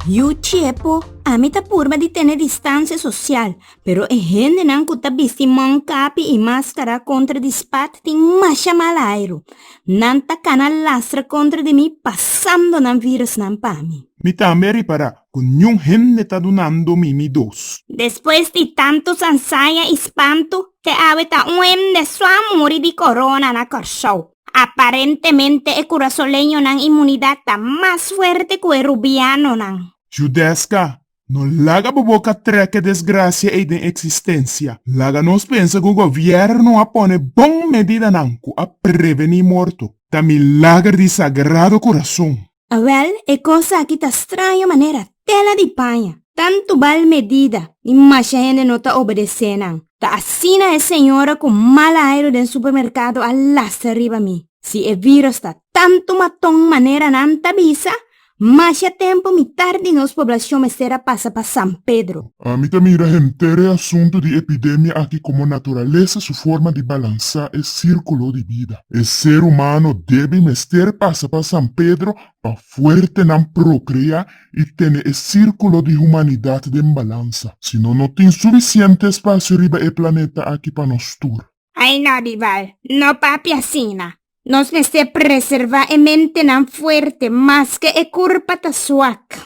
Yu tiepo, ami ta purba di tene distansia sosial, pero e hendenan ku ta bisti mònkapi i maskara kontra di spat tin masha mal airu. Nan ta kana lastra kontra di mi pasando nan virusnan pa mi. Mi tambe a repará ku niun hende ta dunando mi mi dos. Despues di tantu sansaya i spantu, te awe ta un hende su a muri di corona na Kòrsou. Aparentemente e Curasoleñonan inmunidad ta mas fuerte cu e Rubianonan. Judesca, no laga bo boca treke desgracia ey den existencia. Laga nos pensa cu gobierno a pone bon medidanan cu a preveni morto. Ta milager di Sagrado Corazon. Awèl, e kos aki ta straño manera tela di paña! Tantu bal medida i masha hende no ta obedesé nan. Ta asina e señora ku mal airu den supermerkado a lasa riba mi. Si e viros ta tantu maton manera nan ta bisa, masha tempu mi tardi nos poblashon mester a pasa pa San Pedro. Mi ta mira henter e asuntu di epidemia aki komo naturalesa su forma di balansá e sírkulo di bida. E ser humano debe i mester pasa pa San Pedro pa fuerte nan prokreá i tene e sírkulo di humanidat den balansa. Si no, no tin sufisiente espasio riba e planeta aki pa nos tur. Ay no, Bival, no papia asina. Nos mester preservá e mentenan fuerte maske e kurpa ta suak.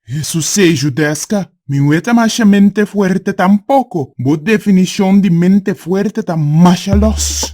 Hesus seju deska, Mi no e ta masha mente fuerte tampoko. Bo definishon di mente fuerte ta masha lòs.